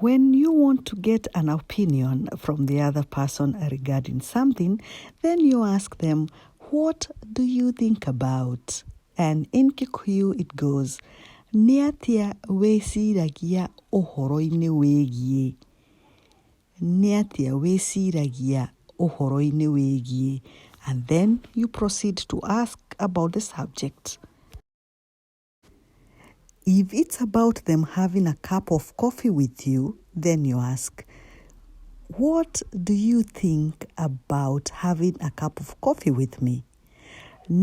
When you want to get an opinion from the other person regarding something, then you ask them, What do you think about? And in Kikuyu it goes, Nĩ atĩa wĩciragia ũhoro-inĩ wĩgiĩ? Nĩ atĩa wĩciragia ũhoro-inĩ wĩgiĩ? And then you proceed to ask about the subject. If it's about them having a cup of coffee with you, then you ask, What do you think about having a cup of coffee with me?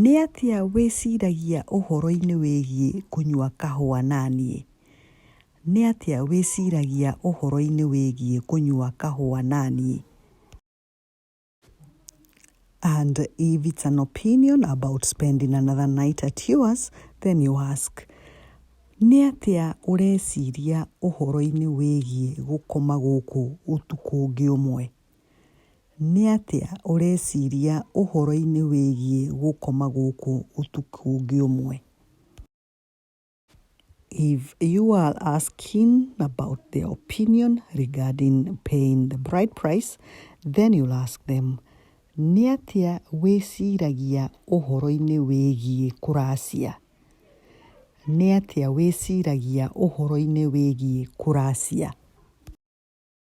Nĩ atĩa wĩciragia ũhoro-inĩ wĩgiĩ kũnyua kahũa na niĩ? Nĩ atĩa wĩciragia ũhoro-inĩ wĩgiĩ kũnyua kahũa na niĩ? And if it's an opinion about spending another night at yours, then you ask, nĩ atĩa ũreciria ũhoro-inĩ wĩgiĩ gũkoma gũkũ ũtukũ ũngĩ ũmwe? Nĩ atĩa ũreciria ũhoro-inĩ wĩgiĩ gũkoma gũkũ ũtukũ ũngĩ ũmwe? If you are asking about their opinion regarding paying the bride price, then you'll ask them, nĩ atĩa wĩciragia ũhoro-inĩ wĩgiĩ kũracia? Nĩ atĩa wĩciragia ũhoro-inĩ wĩgiĩ kũracia?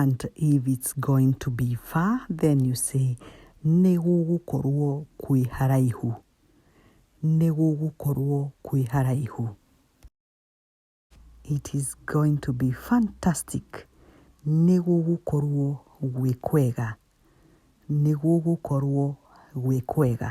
and if it's going to be far then you say nĩ gũgũkorwo kwĩ haraihu nĩ gũgũkorwo kwĩ haraihu it is going to be fantastic nĩ gũgũkorwo gwĩ kwega nĩ gũgũkorwo gwĩ kwega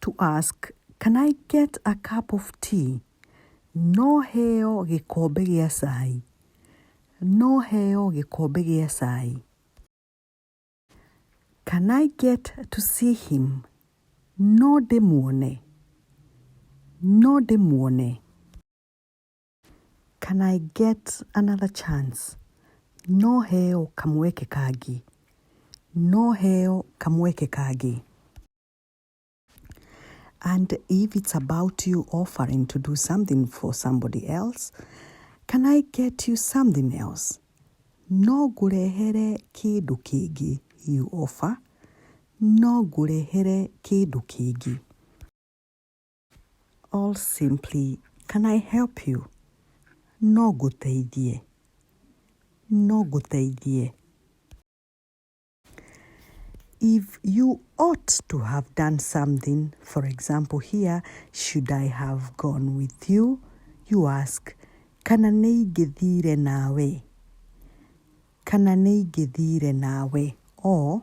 to ask can I get a cup of tea? No heo gĩkombe gĩa cai. No heo gĩkombe gĩa cai. Can I get to see him? No ndĩmuone. No ndĩmuone. Can I get another chance? No heo kamweke kangĩ. No heo kamweke kangĩ. And if it's about you offering to do something for somebody else, can I get you something else? No ngũrehere kĩndũ kĩngĩ you offer. No ngũrehere kĩndũ kĩngĩ. All simply, can I help you? No gũteithie. No gũteithie. If you ought to have done something, for example, here, should I have gone with you? You ask, kana nĩ ingĩthire nawe? Kana nĩ ingĩthire nawe? Or,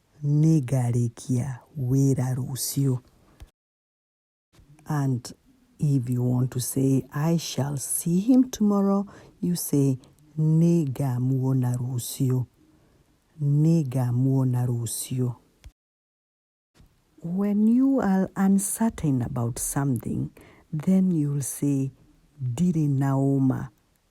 Nĩ ngarĩkia wĩra rũciũ. And if you want to say I shall see him tomorrow, you say Nĩ ngamuona rũciũ. Nĩ ngamuona rũciũ. When you are uncertain about something, then you'll say Ndirĩ na ũma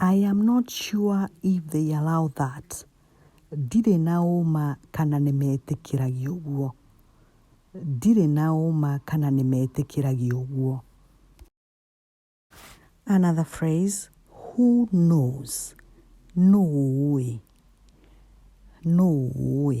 I am not sure if they allow that. Ndirĩ na ũma kana nĩ metĩkĩragia ũguo. Ndirĩ na ũma kana nĩ metĩkĩragia ũguo. Another phrase, who knows? Nũũ ũĩ? Nũũ ũĩ?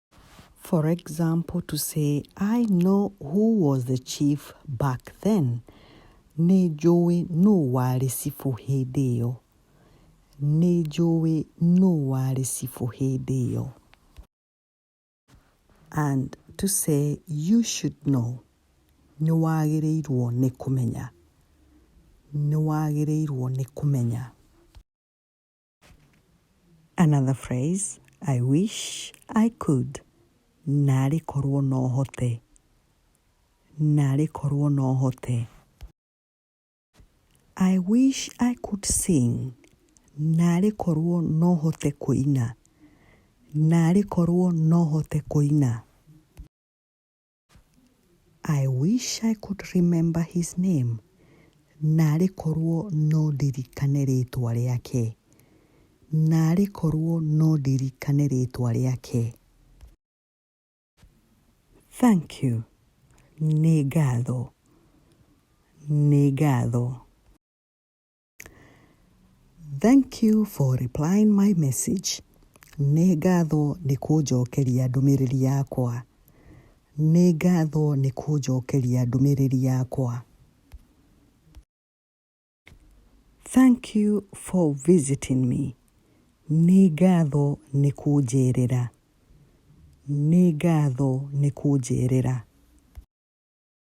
For example, to say, I know who was the chief back then. Nĩ njũĩ nũ warĩ cibũ hĩndĩ ĩyo. Nĩ njũĩ nũ warĩ cibũ hĩndĩ ĩyo. And to say, you should know. Nĩ wagĩrĩirwo nĩ kũmenya. Nĩ wagĩrĩirwo nĩ kũmenya. Another phrase, I wish I could. Narĩ korwo no hote. Narĩ korwo no hote. I wish I could sing. Narĩ korwo no hote kũina. Narĩ korwo no hote kũina. I wish I could remember his name. Narĩ korwo no ndirikane rĩtwa rĩake. Narĩ korwo no ndirikane rĩtwa rĩake. Thank you. Nĩ ngatho. Nĩ ngatho. Thank you for replying my message. Nĩ ngatho nĩ kũnjokeria ndũmĩrĩri yakwa. Nĩ ngatho nĩ kũnjokeria ndũmĩrĩri yakwa. Thank you for visiting me. Nĩ ngatho nĩ kũnjerera. Nĩ ngatho nĩ kũnjerera.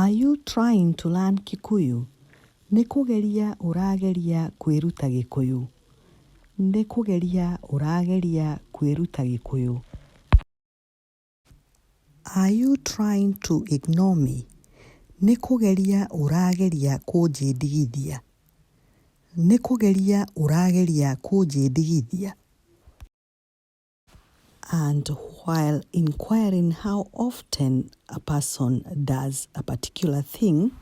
Are you trying to learn Kikuyu? Nĩ kũgeria ũrageria kwĩruta Gĩkũyũ. Nĩ kũgeria ũrageria kwĩruta Gĩkũyũ. Are you trying to ignore me? Nĩ kũgeria ũrageria kũnjĩndigithia. Nĩ kũgeria ũrageria kũnjĩndigithia. And while inquiring how often a person does a particular thing,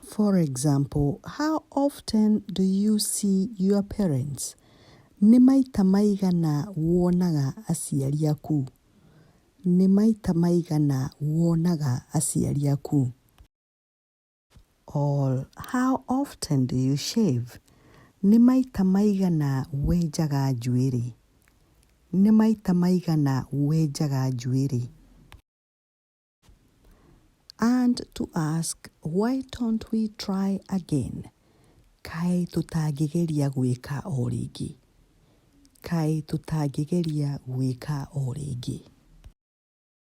for example, how often do you see your parents? Nĩ maita maigana wonaga aciari aku? Nĩ maita maigana wonaga aciari aku? All, How often do you shave? Nĩ maita maigana wenjaga njuĩrĩ? Nĩ maita maigana wenjaga njuĩrĩ? And to ask, why don't we try again? Kaĩ tũtangĩgeria gwĩka o rĩngĩ? Kaĩ tũtangĩgeria gwĩka o rĩngĩ?